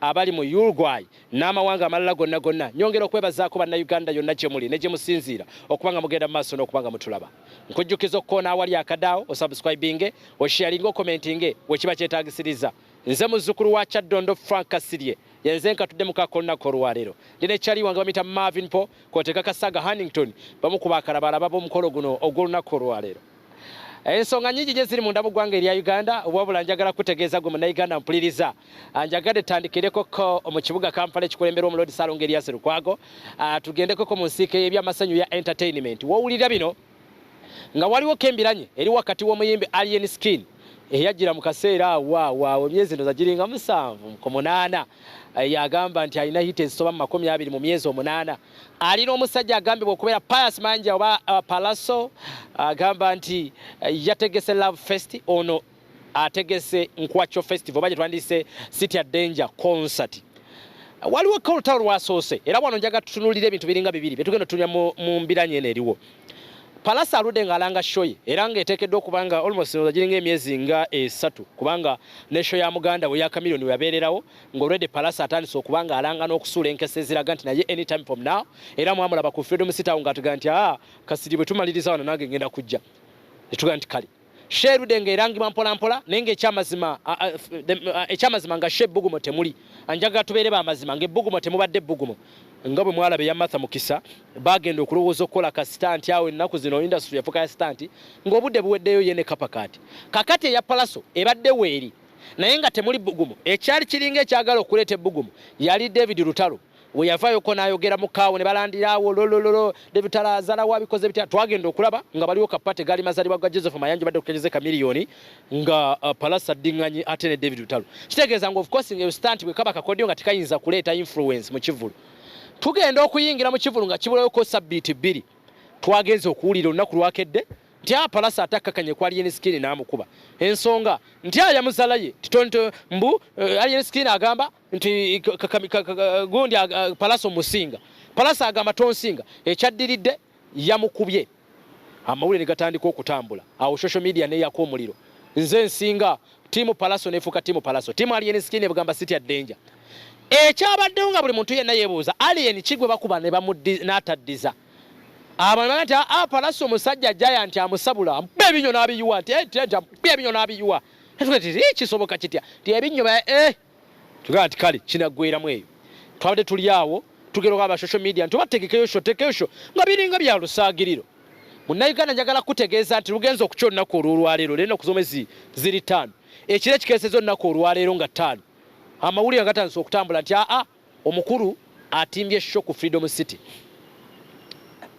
abali mu Uruguay n'amawanga amalala gonna gonna, nyongera okwebazaako Bannayuganda yonna gye muli ne gye musinziira okuba nga mugenda mu maaso n'okuba nga mutulaba. Nkujjukiza okukoona awali akadaawo, osubscribinge, osharinge, okomentinge we kiba kyetaagisiriza. Nze muzzukulu wa Kyaddondo Frank Kasirye yenze nkatudde mu kaako olunaku olwaleero. Ndi ne Charlie wange bamuyita Marvin Paul k'oteeka Kasaaga Hannington bamu ku bakalabalaba b'omukolo guno ogw'olunaku olwaleero. ensonga nyingi nyo ziri munda mu ggwanga erya uganda wabula njagala kutegeeza gwe munauganda mpuliriza ah, njagadde tandikireko ko mu kibuga kampala ekikulemberwa omulodi salonga eryasi lukwago ah, tugendeko ko mu nsiike y'ebyamasanyu ya entertainment wowulira bino nga waliwo kembiranye eri wakati w'omuyimbi alien skin eyajjira mu kaseera awaawaawo emyezi ndoza giringa musanvu ku munaana eh, yagamba nti alina hita ezisoba mu makumi abiri mu myezi omunaana ali n'omusajja agambibwa okubeera pius manja oba uh, palaso agamba nti uh, yategese love fest ono ategese nkwacho festival oba gyetwandise city a danger concert waliwo kolutalo lwasoose era wano njaga tutunulira ebintu biringa bibiri byetugenda tunya mu mbiranye eno eriwo palasa aludde ng'alanga shoye era ng'eteekeddwa okuba nga almost oza giringa emyezi nga esatu kubanga ne sho ya muganda we ya kamiliyoni weyabeererawo ng'olwedde Palasa atandise okuba ng'alanga n'okusuula enkesa eziraga nti naye any time from now era mwamulaba ku Freedom City awo ng'atugaa nti aa ah, kasiri bwe tumaliriza wano nange ngenda kujja ne tugaa nti kale sheerude ng'erangibwa mpolampola naye ng'ekyamazima ekyamazima nga she ebbugumo temuli anjagala tubeere bamazima ng'ebbugumo temubadde ebbugumo nga bwe mwalaba eya matha mukisa bagenda okulowooza okukola kasita nti awo ennaku zino industry yafuka ya sita nti ng'obudde buweddeyo ye ne kapakaati kakati eya palaso ebadde weeri naye nga temuli bbugumu ekyali kiringa ekyagala okuleeta ebbugumu yali david lutalo we yavayoko n'ayogera mu kaawo ne balandiraawo lolololo david lutalo azala wabikoze bitya twagenda okulaba nga baliwo kapate gaali mazalibwa ga joseph mayanja badde okukenyeza ekamiliyoni nga uh, palasa dding'anyi ate ne david lutalo kitegeeza nga ofcourse nga ebisita nti bwe kaba kakodyo nga tekayinza kuleeta influence mu kivulu tugenda okuyingira mu kivulu nga kibulawoko sabbiiti bbiri twagenze okuwulira olunaku lwakedde nti apalasa atakkakanye ku alien skin n'amukuba ensonga nti ayamuzala ye titonto mbu eh, alien skin agamba nti gundi palasa omusinga palasa agamba tonsinga ekyaddiridde yamukubye amawulire negatandika okutambula awo social media neyako omuliro nze nsinga tiimu palaso nefuuka tiimu palaso tiimu alien skin ebugamba city ya danger ekyabaddewo nga buli muntu yenna yebuuza alien kigwe bakuba n'ataddiza Abantu bagati aa ah, palaso musajja jaya nti amusabula ampe ebinyo n'abiyuwa nti eh, tenta ampe ebinyo n'abiyuwa natuga ti eh, kisoboka kitya ti ebinyo ba eh tugamba nti kale kinaggweramu eyo twabadde tuli awo tugera oba social media nti oba tegekeyo sho tegekeyo sho nga biringa bya lusaagiriro munnayuganda njagala kutegeeza nti lugenza okukya olunaku olw'olwaleero leero naku zomezi ziri ttaano ekiro ekikeeseza olunaku olwaleero nga ttaano amawulire agatandisa okutambula nti aa ah, ah, Omukulu atimbye show ku Freedom City.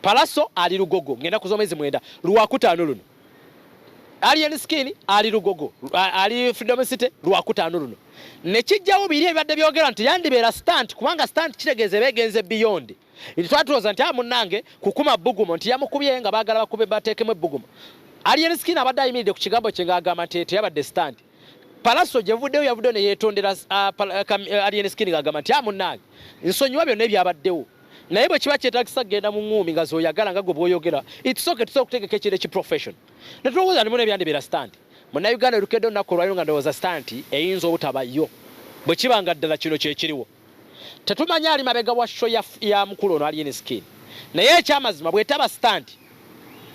Palaso ali lugogo ngenda kuzo mwezi mwenda lwakutaano luno. Alien Skin ali lugogo ali Freedom City lwakutaano luno. Nekijjawo biri ebadde byogera nti yandibeera stunt kubanga stunt kitegeeza ebegenze beyond. nti twatuloza nti amunange ah, kukuma bugumo nti yamukubye nga bagala bakube batekemu ebugumo alien skin abadde ayimiridde ku kigambo kye ngaagamba nti teyabadde stand palaso gyevuddeyo yavuddeyo neyetondera ah, eh, eh, alien skin ngaagamba nti amunange ah, nsonyiwa byonna ebyabaddewo naye bwe kiba kyetagisa kugenda mu ŋŋuumi nga zoyagala nga gwe bwoyogera itsooke tusobola okutegeka ekintu ekiprofession netulowooza nimu nebyandibera stand munauganda olukedde olunaku olwaliro nga ndowooza stand eyinza obutabayo bwe kiba nga ddala kino kyekiriwo Tetumanyi ali mabega wa show ya, ya mukulu ono Alien Skin. Naye ekyamazima bwetaba stand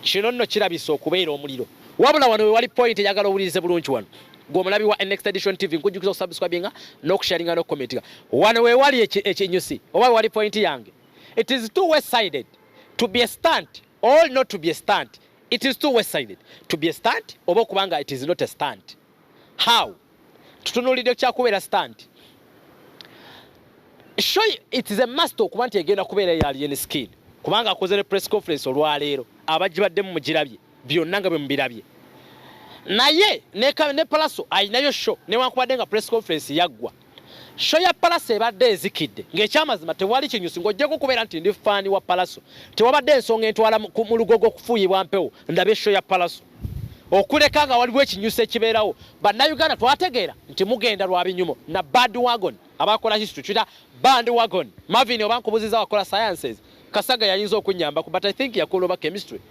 kino nno kirabisa okubeera omuliro. Wabula wano wewali point eyagala owulirize bulungi wano gwe omulabi wa Next Edition TV nkujjukiza okusubscribinga n'okusharinga n'okukomentinga wano wewali ekinyusi oba wewali point yange it is two way sided to be a stunt or not to be a stunt it is two way sided to be a stunt oba okuba nga it is not a stunt how tutunulidde kyakubeera stand show it is a must okuba nti egenda kubeera ya alien skin kubanga akoze ne press conference olwaleero abagibadde mu mugirabye byonna nga bwe mubirabye naye ne palaso alinayo show newankubadde nga press conference yaggwa Show ya Palaso ebadde ezikidde ng'ekyamazima tewali kinyusi ng'ojjako okubeera nti ndi ffaani wa Palaso. Tewabadde ensonga entwala mu lugogo okufuuyibwa mpewo ndabe show ya Palaso. Okuleka nga waliwo ekinyusi ekibeerawo, Bannayuganda twategeera nti mugenda lwa binyumo na Bad Wagon abakola history kira Band Wagon. Marvin oba nkubuziza wakola sciences, Kasaga yayinza okunnyambako but I think yakola oba chemistry.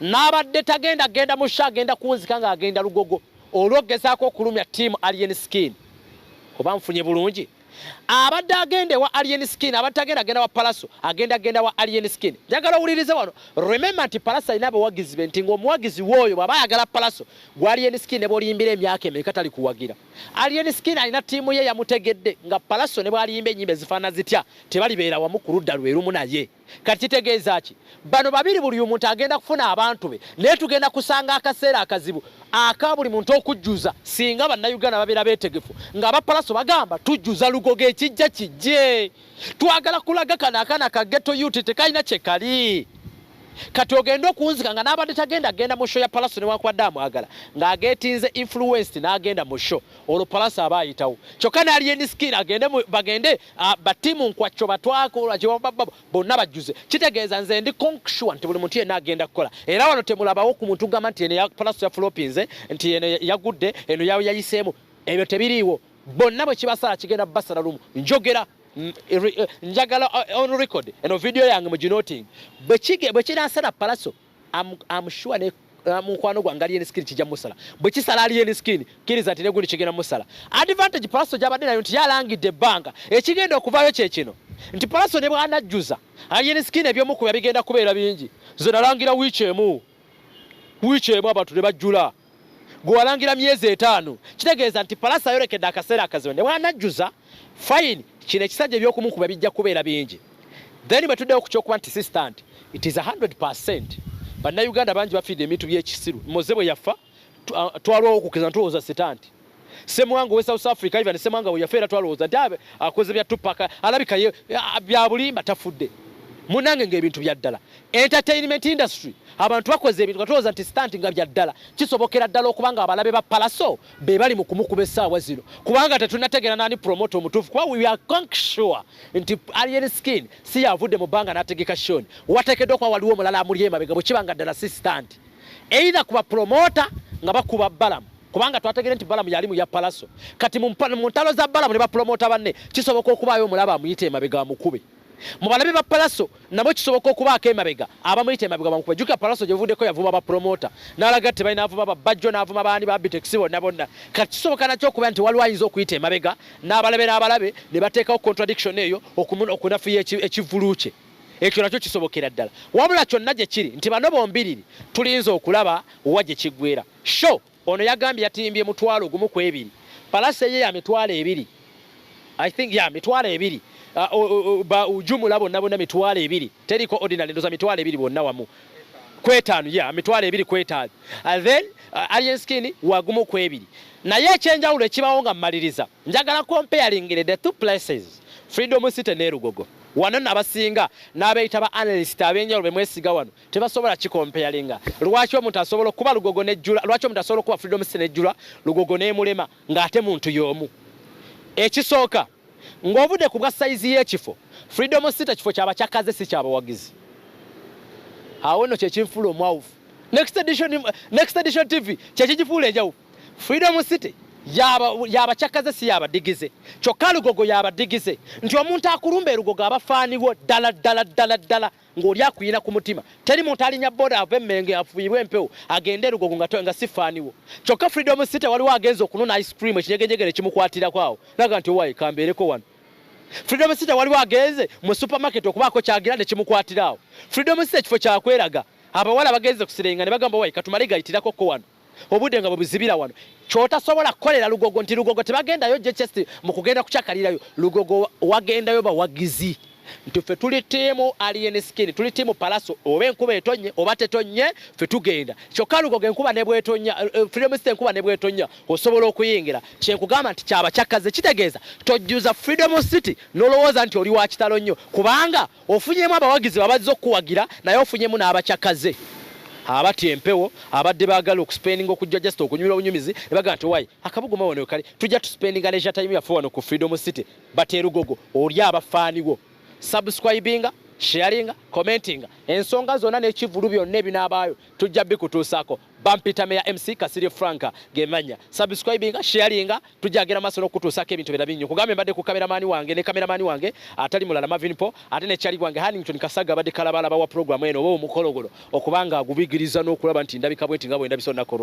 Nabadde tagenda genda mu show agenda kunzika nga agenda lugogo olwogezaako okulumya team Alien Skin. Oba nfunye bulungi? Abadde agenda ewa Alien Skin, abadde tagenda genda wa Palaso, agenda genda wa Alien Skin. Njagala owulirize wano. Remember nti Palaso alina abawagizi be nti ng'omuwagizi w'oyo bw'aba ayagala Palaso gwa Alien Skin ne bw'oliyimbira emyaka emeka tali kuwagira. Alien Skin alina ttiimu ye yamutegedde nga Palaso ne bw'aliyimba ennyimba ezifaanana zitya tebalibeera wamu ku ludda lwe lumu naye. kati kitegeeza ki bano babiri buli omuntu agenda kufuna abantu be naye tugenda kusanga akaseera akazibu aka buli muntu okujjuza singa bannayuganda babeera beetegefu nga abapalaso bagamba tujjuza lugogo ekijja kijje twagala kulaga kano akana ka geto yuti tekalina kyekali kati ogenda okunzika nga n'abadde tagenda agenda mu sho ya palaso newankubadde amwagala ng'ageetinze influenced n'agenda mu sho olwo palaso aba ayitawo kyokka n'alyeniskin agende bagende Ah, ba team nkwacco batwakola kyebabababo bonna bajjuze kitegeeza nze ndi conksure nti buli muntu yenna agenda kukola era wano temulabawo ku muntu gamba nti eno palaso yafulopinze nti eno yagudde eno yayiseemu ebyo tebiriiwo bonna bwe kibasala kigenda basala lumu njogera mm, eh, njagala eh, on record eno vidiyo yange mu ginoting bwe kinasala palaso am, am sure ne uh, mukwano gwange alien skin kijja musala bwe kisala alien skin kiriza nti negundi kigenda musala advantage palaso gyabadde nayo nti yalangidde ebbanga ekigenda okuvaayo kye kino nti palaso ne bwanajjuza alien skin ebyomukuba bigenda kubeera bingi nze nalangira wiiki emu wiiki emu abantu ne bajjula gwe walangira myezi etaano kitegeeza nti palasi ayolekedde akaseera akazibu ne bwanajjuza fayini kino ekisajja ebyokumukuba bijja kubeera bingi then bwe tuddewo ku kyokuba nti sistant it is 100 percent bannayuganda bangi bafiidde ebintu byekisiru moze bwe yafa twalwawo okukiriza ntulowooza sitanti Semwango we South Africa even Semwango we yafera twaloza dabe akoze bya tupaka alabika ye bya bulimba tafudde munange nge bintu bya dala entertainment industry abantu bakoze ebintu katoza nti stunt nga bya dala kisobokera dala okubanga abalabe ba palaso be bali mu kumukuba esawa zino kubanga tetunategera nani promote omutufu kwa we are conk sure nti alien skin si yavude mu banga nategeka shoni watekedo kwa waliwo mulala amuliyema bega bukibanga dala si stunt either kuba promoter nga bakuba balamu kubanga twategere nti balamu yali muya palaso kati mu ntalo za balamu ne bapromota banne kisoboka okubaayo omulaba amuyita emabega amukube mu balabi ba palaso nabo kisoboka okubaako emabega abamuyita emabega bamukube jukira palaso gyevuddeko yavuma bapromota n'alaga ti balina avuma babajjo n'avuma baani babitex bonna bonna kati kisoboka nakyo okuba nti waliwo ayinza okuyita emabega n'abalabe n'abalabe ne bateekawo contradiction eyo okunafuya ekivulu kye Ekyo nakyo kisobokera ddala. Wabula kyonna gye kiri nti bano bombiriri tulinze okulaba wa gye kiggweera. Show ono yagambye yatimbye mutwalo gumu ku ebiri. Palase ye ya mitwalo ebiri. I think, yeah, mitwalo ebiri. Uh, o, o, o, ba ujumula bonna bonna mitwalo ebiri. Teriko ordinary ndoza mitwalo ebiri bonna wamu. Kwetaanu, yeah, mitwalo ebiri kwetaanu. And then, uh, alien skin wagumu ku ebiri. Naye ekyenjawulo ekibawo nga mmaliriza. Njagala comparing the two places. Freedom City ne Lugogo. Wano nno abasinga n'abeeyita ba analyst ab'enjawulo be mwesiga wano tebasobola kikompeyalinga. Lwaki omuntu asobola okuba Lugogo ne Jjula, lwaki omuntu asobola okuba Freedom City ne Jjula, Lugogo n'emulema ng'ate muntu y'omu? Ekisooka, ng'ovudde ku bwa sayizi y'ekifo, Freedom City kifo kya bacakaze si kya bawagizi. Awo nno kye kinfuula omwawufu. Next Edition, Next Edition TV kye kigifuula enjawufu. Freedom City yabacakaze si yabadigize kyokka lugogo yabadigize nti omuntu akulumba erugogo aba faaniwo ddala ddala ddala ddala ng'oli akuyina ku mutima teri muntu alinya boda ava emmenge afuirwe empewo agende erugogo nga, nga si faaniwo kyokka freedom city waliwo agenza okunona ice cream ekinyegejegere kimukwatirako awo naga nti owaye kambeereko wano freedom city waliwo agenze mu supermarket okubaako kyagira ne kimukwatira awo freedom city ekifo kyakweraga abawala bagenze kusirenga ne bagamba owaye katumale gayitirako ko wano obudde nga bwebuzibira wano kyotasobola kukolera lugogo nti lugogo tebagendayo jechest mu kugenda kukyakalirayo lugogo wagendayo bawagizi nti ffe tuli tiimu alien skin tuli tiimu palaso oba enkuba etonye oba tetonye ffe tugenda kyokka lugogo enkuba nebwetonya eh, eh, freedom star enkuba nebwetonya osobola okuyingira kyenkugamba nti kyabakyakkaze kitegeeza tojjuza freedom city nolowooza nti oli wakitalo nnyo kubanga Ofunyemu abawagizi bo abazze okukuwagira naye ofunyemu n'abacakaze abatya empewo abadde baagala okuspendinga okujja just okunyumira obunyumizi ne bagamba nti owaye akabuguma wano wekali tujja tuspendinga leisure time yaffe wano ku freedom city but erugogo oli abafaaniwo subscribinga sharinga commentinga ensonga zonna n'ekivulu byonna ebinaabaayo tujja bikutuusaako Bampita Meya MC Kasirye Frank gemanya. Subscribinga, sharinga, tujagera maso nokutusa ke bintu birabinyo. Kugambe mbade ku cameraman wange ne cameraman wange atali mulala Marvin Po ate ne chali wange Hannington Kasaga bade kalabala bawa program eno obo mukologolo okubanga agubigiriza nokulaba nti ndabika bwenti ngabo endabiso nakoro.